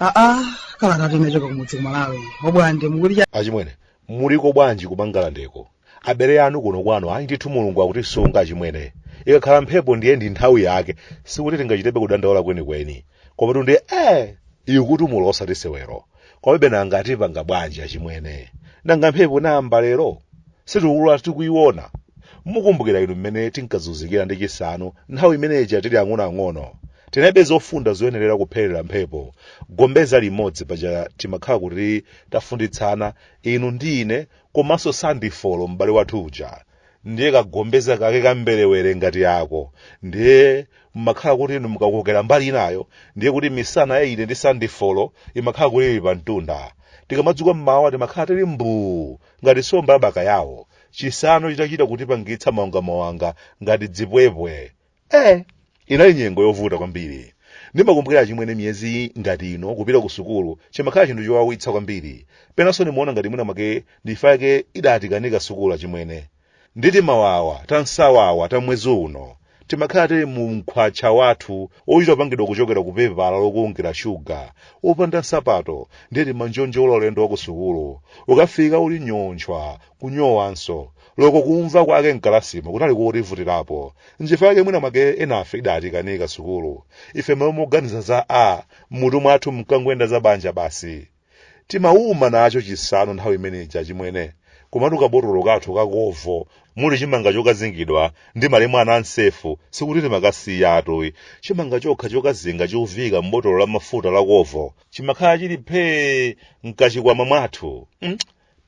aa kalatatu inachoka kumudzi kumalawi obwande mukuti achimwene muliko bwanji kumangalandeko abale anu kuno kwanu ayi ndithu mulungu akutisunga achimwene ikakhala mphepo ndiye ndi nthawi yake sikuti tingachitebe kudandaula kwenikweni komatu ndiye eh ikutimula osati sewero komabe nanga tipanga bwanji achimwene nanga mphepo inayamba lero sitikukula tikuyiona mukumbukira inu mmene tinkazunzikira ndi chisanu nthawi imene ija tili ang'onoang'ono tinalibe zofunda zoyenerera kupherera mphepo gombeza limodzi paja timakhala kuti tafunditsana inu ndi ine komanso sandifolo m'bale wathu uja ndiye kagombeza kake kamberewere ngati yako ndiye mmakhala kuti inu mukakokera mbali inayo ndiye kuti misana ya ine ndi sandifolo imakhala kuti ili pa mtunda tikamadzuka mmawa timakhala tili mbuu ngati somba ya bakayawo chisanu chitachita kutipangitsa mawangamawanga ngati dzipwepwe eh inali nyengo yovuta kwambiri ndimakumbukira achimwene miyezi ngati ino kupita ku sukulu chimakhala chinthu chowawitsa kwambiri penanso ndimaona ngati mwina mwake nchifukwa chake idatikanika sukulu achimwene ndi timawawa tansawawa ta mwezi uno timakhala tili mu mkhwatcha wathu ochita kupangidwa kuchokera ku pepala lokulungira shuga opanda nsapato ndiye timanjonjola ulendo wa ku sukulu ukafika uli nyontchwa kunyowanso loko kumva kwake mkalasimo kunali kotivutirapo nchifukwa chake mwina mwake enafe idatikanika sukulu ife mmalo moganiza za a m'mutu mwathu mkangoyenda za banja basi timauma nacho chisanu nthawi imene ija chimwene komatu kabotolo kathu ka kovo muli chimanga chokazingidwa ndi malemu anansefu sikuti timakasiyatu ayi chimanga chokha chokazinga choviika m'botolo la mafuta la kovo chimakhala chili phee mkachikwama mwathu mm?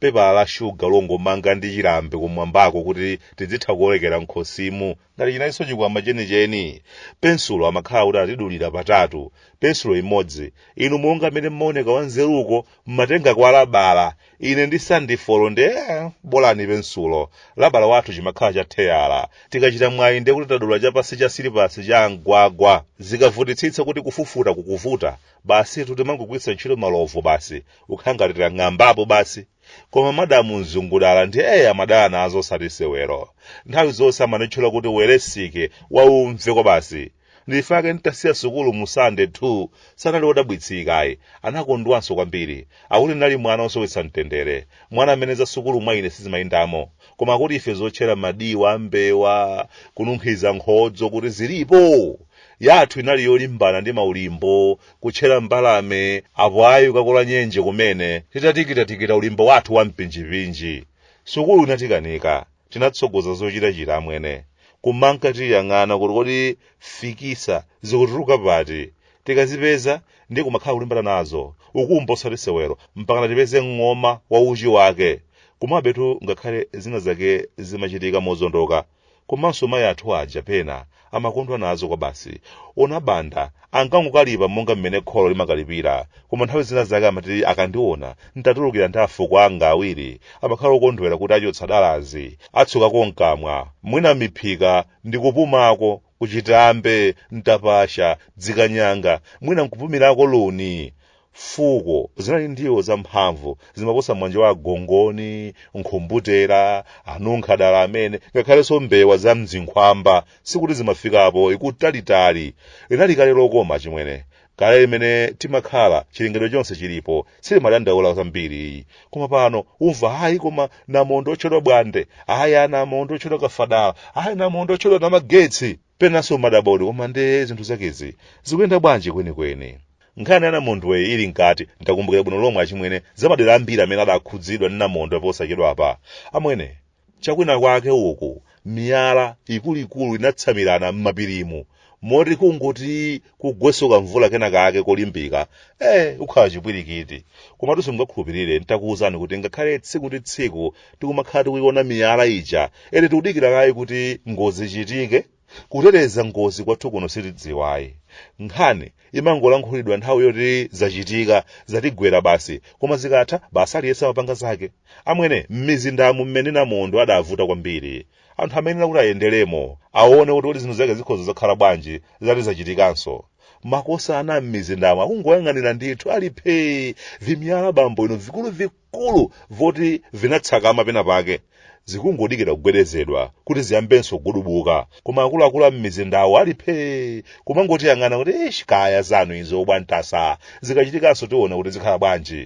pepala la shuga longomanga ndi chilambe kumwambako kuti tidzitha kukolekera m'khosimu ngati chinalinso chikwama chenicheni pensulo amakhala kuti atidulira patatu pensulo imodzi inu monga amene mmaoneka wanzeruko mmatenga kwa labala ine ndi sandifolo nde eh, bolani pensulo labala wathu chimakhala cha theyala tikachita mwayi nde kuti tadula chapansi cha silipasi cha mgwagwa zikavutitsitsa kuti kufufuta kukuvuta basitu timangogwiritsa ntchito malovu basi ukhangatira ng'ambapo basi koma madamu mzungudala ndiye amadana nazo osati sewero nthawi zonse amanitchula kuti weresike waumve kwa basi nchifukwa chake ntasiya sukulu mu sande 2 sanali wodabwitsika ayi anakondwanso kwambiri akuti ndinali mwana osowetsa mtendere mwana amene za sukulu mwa ine sizimayendamo koma akuti ife zotchera madiwa a mbewa kununkhiza nkhodzo kuti zilipo yathu inali yolimbana ndi maulimbo kutchera mbalame apo ayi ukakola nyenje kumene titatikitatikita ulimbo wathu wa mpinjipinji sukulu inatikanika tinatsogoza zochitachita amwene kumanka tiyang'ana kuti kodi fikisa zikutuluka pati tikazipeza ndi kumakhala kulimbana nazo ukumba osati sewero mpakana tipeze ng'oma wa uchi wake kumabetu ngakhale zina zake zimachitika mozondoka Komanso mayi athu aja pena amakondwa nazo kwabasi. Onabanda ankangokalipa monga mmene kholo limakalipira, koma nthawi zina zake amati akandiona n'tatulukira ndi afuko anga awiri amakhala okondwera kuti achotsa dalazi, atsukako m'kamwa, mwina miphika ndi kupumako, kuchitambe, mtapasha, dzikanyanga, mwina n'kupumirako luni. Fuko zinali ndiwo zamphamvu zimaposa mwanje wa agongoni, nkhumbutera, anunkhadala amene, ngakhalenso mbewa za mzinkhwamba, sikuti zimafikapo i kutalitali. Linali kale lokoma achimwene. Kale limene timakhala, chilengedwe chonse chilipo, sitimadandaula zambiri. Koma pano, umva hayi koma namondwe otchedwa bwande, hayi anamondwe otchedwa kafadala, hayi namondwe otchedwa namagetsi. penanso umadabwa kuti koma nde zinthu zakezi zikuyenda bwanji kwenikweni nkhani ya namondweyi ili mkati ndakumbukira bwino lomwe achimwene zamadera ambiri amene adakhudzidwa ndi namondwe posachedwa apa amwene chakwina kwake uku miyala ikuluikulu inatsamirana m'mapirimu moti kungoti kugwenso kamvula kena kake kolimbika eh ukhala chipwirikiti komatu simungakhulupirire ntakuwuzani kuti ngakhale tsiku ndi tsiku tikumakhala tikuiona miyala ija ene tikudikira kaye kuti ngozi ichitike kuteteza ngozi kwathu kuno sitidziwayi nkhani imangolankhulidwa nthawi yoti zachitika zatigwera basi koma zikatha basi aliyense amapanga zake amwene m'mizindamu mmene namondwe adavuta kwambiri Anthu amayenera kuti ayenderemo, aone kuti kodi zinthu zake zikhoza zakhala bwanji zitati zachitikanso. Makosana a m'mizindamo akungoyang'anira ndithu ali phee, vimiyala bambo inu vikuluvikulu voti vinatsakama pena pake. Zikungodikira kugwedezedwa kuti ziyambenso kugudubuka, koma akuluakulu a m'mizindawo ali phee, kumangotiyang'ana kuti eish kaya zanu izo bwantasa, zikachitikanso tiona kuti zikhala bwanji.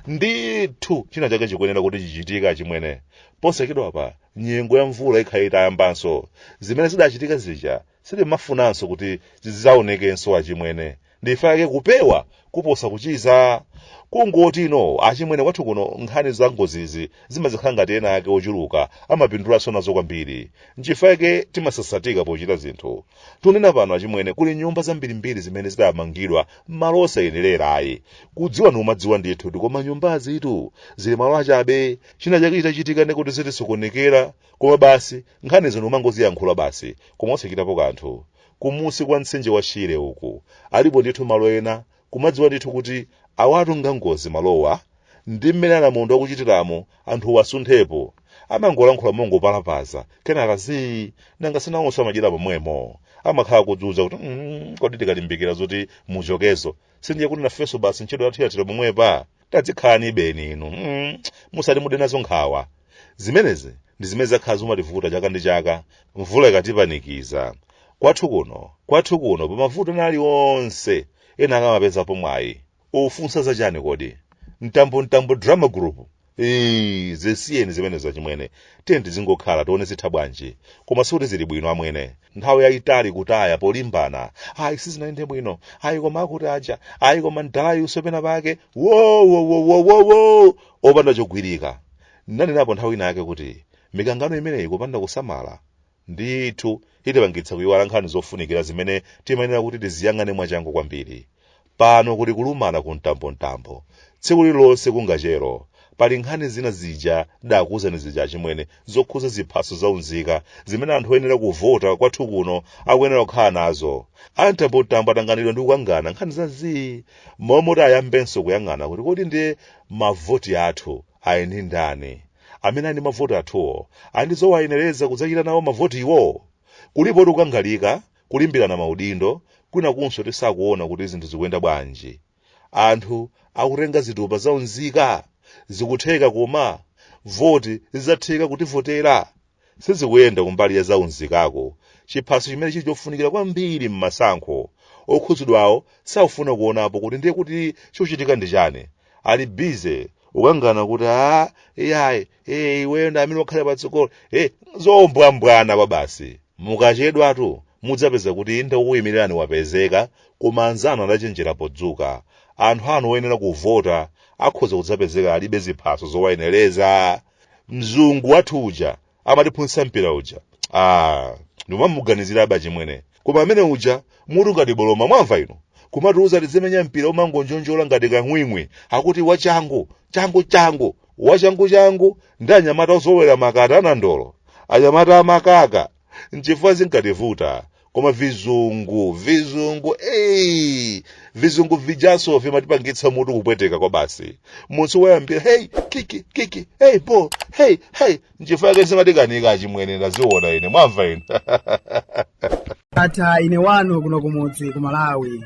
ndithu china chake chikuyenera kuti chichitike achimwene posachedwapa nyengo ya mvula ikhala itayambanso zimene zidachitika zija sitimafunanso kuti zidzaonekenso achimwene nchifukwa chake kupewa kuposa kuchiza kungoti inu achimwene kwathu kuno nkhani za ngozizi zimazikhala ngati ena ake ochuluka amapindulanso nazo kwambiri nchifukwa chake timasasatika pochita zinthu tunena pano achimwene kuli nyumba zambirimbiri zimene zidamangidwa m'malo osayenerera ayi kudziwa n'kumadziwa ndithu kuti koma nyumbazitu zili malo achabe china chake chitachitika ndekuti zitisokonekera koma basi nkhani zino umangoziyankhula basi koma osachitapo kanthu kumusi kwa mtsinje wa shire uku alipo ndithu malo ena kumadziwa ndithu kuti awatu ngangozi malowa ndi mmene anamondwe akuchitiramo anthuwo asunthepo amangolankhula mongopalapaza kenaka zii nanga sinawonso madyera pomwemo amakhala kudziuza kuti "Mm, kodi tikalimbikira zoti muchokezo sindiye kuti nafenso basi ntchito yathu yathera pomwepa tadzikhalani ibeni inu musati mude nazo nkhawa zimenezi ndi zimene zakhala zimativuta chaka ndi chaka mvula ikatipanikiza kwathu kuno kwathu kuno pamavuto aliwonse ena akamapezapo mwayi ufunsa za chani kodi mtambo mtambo drama group Eee, zisiyeni zimenezo achimwene tiye tizingokhala tione zitha bwanji koma sikuti zili bwino amwene nthawi yayitali kutaya polimbana ayi sizinayende bwino ayi koma akuti aja ayi koma mdalayi usopena pake wowowowowowo opanda chogwirika nanenapo nthawi ina yake kuti mikangano imeneyi kupanda kusamala ndithu itipangitsa kuyiwala nkhani zofunikira zimene timayenera kuti tiziyang'ane mwachangu kwambiri pano kuli kulumana ku mtambomtambo tsiku lililonse kungachelo pali nkhani zina zija dakuwuzani zija achimwene zokhuza ziphaso za unzika zimene anthu oyenera kuvota kwathu kuno akuyenera kukhala nazo a mtambomtambo atanganidwa ndi kukangana nkhani za zii momwe kuti ayambenso kuyang'ana kuti kodi ndiye mavoti athu Eya ndi ndani amene ali ndi mavoti athuwo ali ndi zowayenereza kudzachita nawo mavotiwo? Kulipotu kukangalika, kulimbirana maudindo, kwinakunso tisakuona kuti zinthu zikuyenda bwanji. Anthu akutenga zitupa za unzika. Zikutheka koma? Voti zidzatheka kutivotera? Sizikuyenda kumbali ya zaunzikako, chiphaso chimene chili chofunikira kwambiri m'masankho. Okhudzidwawo sakufuna kuonapo kuti ndiye kuti chochitika ndi chani. Ali busy kukangana kuti aah, iyayi, ee iweyo ndi amene ukhale patsogolo, ee zombwambwana kwabasi. Mukachedwatu mudzapeza kuti inde wokuimirirani wapezeka koma anzanu adachenjera podzuka. Anthu anu oyenera kuvota akhoza kudzapezeka alibe ziphaso zowayenereza. mzungu wathu uja amatiphunzitsa mpira uja ah ndikamamuganizira aba chimwene koma amene uja mutu ngati boloma mwamva inu kumatiuza tizimenya mpira umangonjonjola ngati kang'wing'wi akuti wachangu changu changu wachangu changu ndi anyamata ozolowera makata anandolo anyamata amakaka nchifukwa zinkativuta koma vizungu vizungu eyi vizungu vijaso vimatipangitsa mutu kupweteka kwa basi munthu wayambira hey kiki kiki hey bo hey hey nchifukwa yake zimatikanika achimwene ndaziona ine mwamva ine ata ine wanu kuno kumudzi ku malawi